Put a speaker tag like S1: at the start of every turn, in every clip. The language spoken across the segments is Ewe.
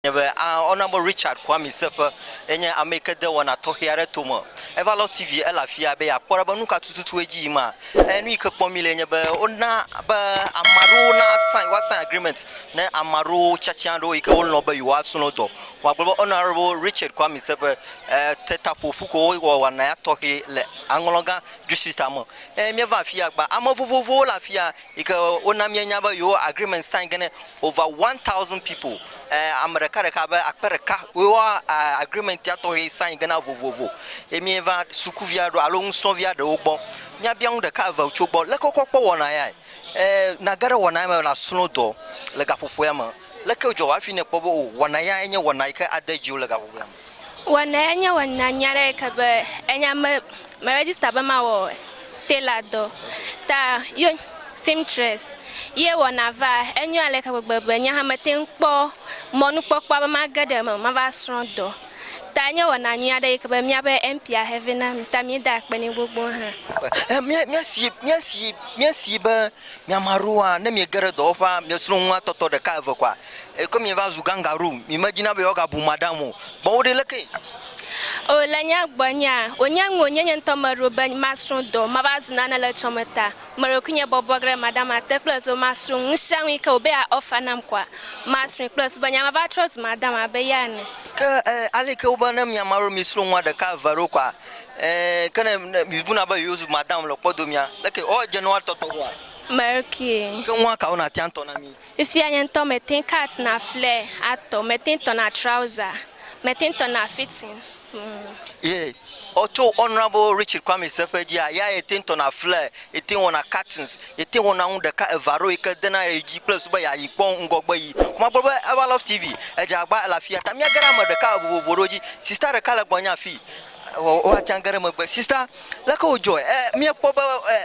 S1: Nye be a ɔ na be Richard Kwame Seƒe ye nye ame yi ke de wɔna tɔxɛ aɖe to me. Eva lɔ TV ele afia be yeakpɔ ɖa be nu ka tututu edzi yim a. Eye nu yi ke kpɔm mi le nye be wona be ame aɖewo na sign woa sign agreement ne ame aɖewo tiatia aɖewo yi ke wolɔ̃ be yewoa srɔ̃ dɔ. Vɔ agblɔ be Honorable Richard Kwame Seƒe e te ta ƒo ƒu ko wowɔ wɔna ya tɔxɛ le aŋlɔgã distrita me. Eye míeva afia gba ame vovovowo le afia. yi ke wona míenya be yewo agreement sign ge ne over one thousand people eh, ame ɖeka ɖeka be akpe ɖeka yewo eh, agreement ya tɔxɛ sign ge na vovovo ye míeva sukuvi aɖewo alo nusrɔ̃vi aɖewo gbɔ míabia nu ɖeka eve tso gbɔ leke wokɔ kpɔ wɔna yae eh, nage ɖe wɔna ya me nasrɔ̃ dɔ le gaƒoƒoa me leke dzɔ hafi ne kpɔ be o wɔna ya enye wɔna yi ke ade dziwo le gaƒoƒoa me Wɔnɛ enye wɔna nyui aɖe yi ke be enya me me register be mawɔ tailor dɔ ta ye seamstress ye wɔna va enyo ale ke gbegbe be nye hã mete ŋu kpɔ mɔnukpɔkpɔ be mage ɖe eme mava srɔ̃ dɔ ta enye wɔna nyui aɖe yi ke be míaƒe MP ahe vɛ na mi ta míeda akpe nɛ gbogbo hã. E mía míasi míasi míasi be miame aɖewoa ne miege ɖe dɔwɔƒea miesrɔ̃ nua tɔtɔ ɖeka eve koa Eko mi va zu gangaroo, mi me dina be yewo ga bu madam o. Kpɔ wo ɖi leke. O le nya gbɔ nyea, o nye ŋu o nye nye ŋutɔ me ɖo be ma srɔ dɔ, ma va zu nane le tsɔme ta. Me ɖokui nye bɔbɔ gre madam a te kple zu ma srɔ ŋu sia ŋu yi ke o be a offer nam kɔa, ma srɔe kple zu be nye ma va trɔ zu madam a be ya ene. Ke e, ale ke wo be ne mi ame aɖewo mi srɔ ŋua ɖeka eve aɖewo kɔa, e, ke ne, ne mi bu na be yewo zu madam le kpɔ do mia, leke o dze ne woa tɔtɔ ŋua? Me ɖokui. Ke ŋua kawo na tia tɔ na mi? Fifia nye ŋutɔ mete kat na fle atɔ, mete tɔ na trauza, mete tɔ na fitin mm. Ye ɔ tso Honorable Richard Kwame Seƒe dzia, ya ye te tɔ na fle, ye te wɔ na katins, ye te wɔ na nu ɖeka eva ɖo yi ke de na ye dzi kple su be ya yi kpɔ ŋgɔgbe yi. Kuma agblɔ be Eva Love TV edze agba ele afia ta mia ge ɖe ame ɖeka vovovo ɖewo dzi. Sista ɖeka le gbɔ nye afi, wo ate age ɖe megbe. Sista. Leke wòdzɔe? E, míekpɔ be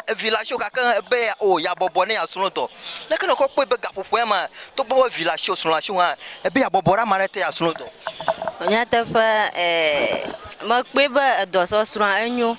S1: e, vi la tso gake be o yeabɔbɔ ne yeasrɔ̃ dɔ. Leke nèkɔ kpɔe be gaƒoƒoa mea, togbɔ be vi la tso, srɔ̃ la tso hã, ebe yeabɔbɔ ɖe ame aɖe te yeasrɔ̃ dɔ? Nyateƒe, e, mekpɔe be edɔsɔsrɔ̃a enyo.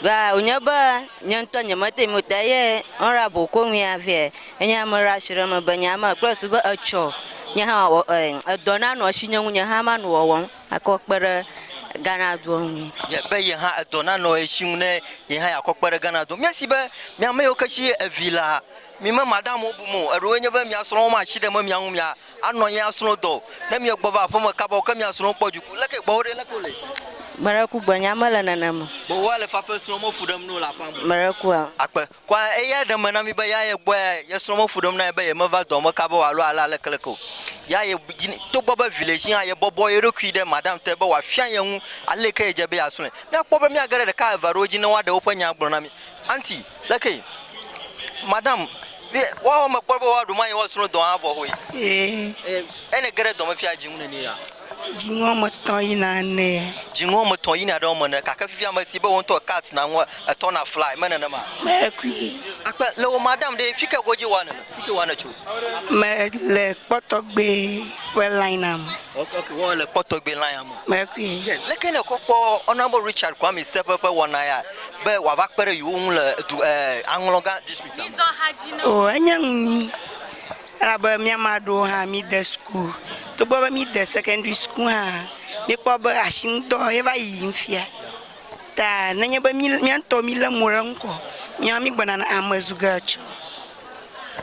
S1: Ga wònye be nye ŋutɔ nyemete ŋui o ta eye honorable Kowuia vɛ enye ame ɖe asi ɖe eme be nye hã mekpɔe su be etsɔ nye hã wɔ, e, edɔ nanɔ esi nye ŋu nye hã manɔ wɔwɔm. Akɔ kpe ɖe Ghana dua ŋu. Ye be ye hã edɔ nanɔ ye si ŋu ne ye hã yeakɔ kpe ɖe Ghana dua ŋu. Míasi be mi ame yiwo ke si ye evi lea, mi me Madamuwo bum o. Eɖewoe nye be mia srɔ̃wo ma asi ɖe me mia ŋu mia anɔ anyi asrɔ̃ dɔ o. Ne mie gbɔ va aƒeme kaba o ke mia srɔ̃wo kpɔ dziku. Leke ye gbɔwo ɖe leke wole? Meɖe ku gbenye mele nenem o. Gbewoa le fafe srɔ̃ me fu ɖem no le aƒea me. Meɖe kua? Akpe. Kɔa eyae ɖe eme na mí be ya ye gbɔe ye srɔ̃ me fu ɖem na ye be yemeva dɔa me kaba o alo ale alekeleke o. Ya ye dzi, togbɔ be vi le esi hã, yebɔbɔ ye ɖokui ɖe madam te be wòafia ye ŋu ale ke yedze be yeasrɔ̃e. Míakpɔ be míage ɖe ɖeka eve aɖewo dzi ne woaɖe woƒe nya agblɔ na mí. Aunty, Lekee? Madam, Vi, woawo mekpɔ be woaɖu mɔ anyi woasrɔ̃ dɔa hã vɔ hoe. Eye ne ge ɖe dɔmefia dzi ŋu nɛnɛa? Dziŋɔ ame tɔ̃ yina ene. Dziŋɔ ame tɔ̃ yina ɖe wo me ene. Gake fifia ame si be wò ŋutɔ cut na ŋua, etɔ na fly, me nenema? Mekui. Akpe, le wò madam ɖee, fike godzi wòa nene? Fike wòa netso? Me le kpɔ tɔgbe ƒe line a me. Ok, ok, wɔ le kpɔ tɔgbe line a me. Mekui. Ke leke ne kɔ kpɔ Honourable Richard Kwame Sɛƒe ƒe wɔna ya be wòava kpe ɖe yewo ŋu le du, eh, Aŋlɔga district a me? Oh, enye nu nyui. Elabe mía ame aɖewo hã mide suku, togbɔ be mide sekɛndri suku hã, míekpɔ be asinudɔ ye va yiyim fia. Ta nenye be mí, mía ŋutɔ mílé mo ɖe eŋu koa, míawo hã mígbɔna ame zu ge etsɔ.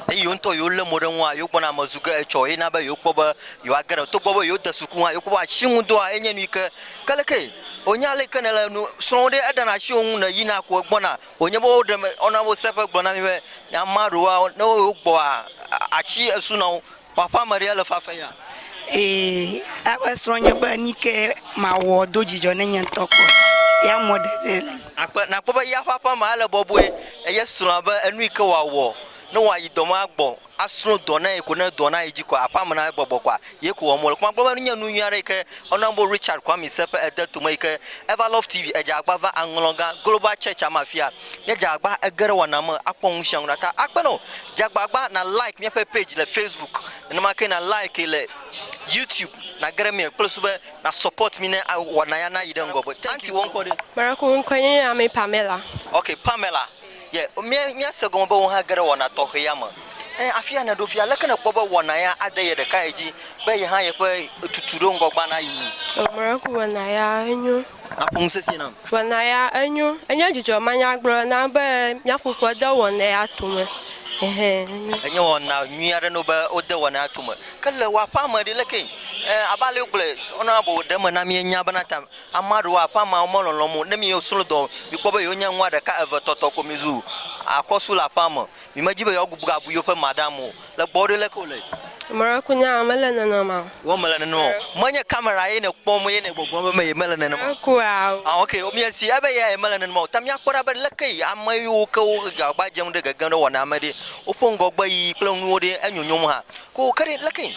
S1: Ne yewo ŋutɔ yewolé mo ɖe eŋua, yewogbɔna ame zu ge etsɔ ye na be yewokpɔ be yewoage ɖe eme. Togbɔ be yewode suku hã, yewokpɔ be asinudɔa enye nu yi ke ke leke wònye ale yi ke nèle nu srɔ̃m ɖe, eɖana asi wò ŋu, nèyina ko egbɔna. Wònye be woɖe me, wona wose ƒe gblɔ na mí be, Nya ma ɖewoa, ne woyɔ wo gbɔa, atsi esu na wo. Kpɔ aƒe ame ɖee le fafe ya. Ee, eƒe srɔ̃ nye be, Nike mawɔ do dzidzɔ ne nye ŋutɔ kpɔ? Ya mɔ ɖe ɖe li. Akpe, nakpɔ be ya ƒe aƒe amea le bɔbɔe, eye srɔ̃a be, enu yike wòawɔ ne wòayi dɔ ma gbɔ asrõ dɔ na ye ko ne dɔ na ye dzi ko aƒea me na egbɔgbɔ koa, ye ko wɔm wole. Kuma gblɔ be enye nu nyui aɖe yi ke woyɔna be Richard Kwame se ƒe ede tome yi ke Ever Love TV edze agba va aŋlɔ gã Global Church-a me afia. Ne edze agba ege ɖe wɔna me akpɔ nu sia nu ɖa ta akpe na wò. Dze agbagba na like míaƒe page le Facebook, nenema ke na like le YouTube nage ɖe eme kple susu be na support mí ne wɔna ya nayi ɖe ŋgɔ gbe. Aunty wò ŋkɔ ɖe? Maraku ŋkɔe nye Ame Pamela. Ok Pamela, Ye mía, míase egɔme be wò hã ge ɖe wɔna tɔxɛ ya me. Ẽ, afia nèɖo fia, aleke nèkpɔ be wɔna ya ade ye ɖekae dzi be ye hã yeƒe tutu ɖe ŋgɔ gbã nayi nu? O Mɔrɛku, wɔna ya enyo. Nàƒo nu sesĩe nam. Wɔna ya enyo. Enye dzidzɔ manyagblɔ nam be mía fofoa de wɔna ya to me. Ɛhɛ, enyo. Enye wɔna nyui aɖe na wo be wode wɔna ya to me. Ke le wò aƒea me ɖe, lekee? Ẽ, abe ale wogblɔe, wonɔna boblo ɖe eme na mí, enya bena ta. Ame aɖewo hã, ƒe ameawo melɔlɔ̃m o. Ne mi yewo srɔ̃ dɔ, mikpɔ be yewo nye nua ɖeka, eve, etɔ̃ tɔ ko mizu akɔsu le aƒea me. Mi medzi be yewoa gbubu abu yewo ƒe madam o. Le gbɔwò ɖe, leke wòle? Mɔɖe ku nyaa, mele nenema o. Wɔ mele nenema o. Menye kamera ye nèkpɔm ye nègbɔgblɔm be meye mele nenema o. Eku ao. Ah ok, mia si ebe yea ye mele nenema o. Ta miakpɔ ɖa be leke yi ame yiwo ke wo agbagba dzem ɖe gegem ɖe wɔna me ɖe, woƒe ŋgɔgbe yiyi kple nuwo ɖe enyonyom hã. Ko ke ɖe leke yi?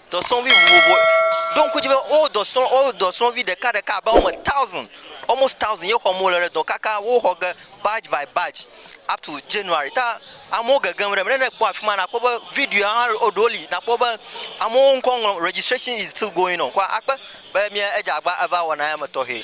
S1: dɔsrɔ̃vi vovovo. Ɖo ŋku dzi be wo dɔsrɔ̃ wo dɔsrɔ̃vi ɖekaɖeka abe wɔme taosin almost taosin ye xɔm wo le ɖe dɔ kaka woxɔ ge badzi by badzi up to January. Ta amewo gegem ɖe eme. Ne ekpɔ afi ma nakpɔ be video hã eɖewo li nakpɔ be amewo ŋkɔ ŋlɔm registration is still going on. Kɔ akpe be mía edze abe eva wɔna ya me tɔxɛ.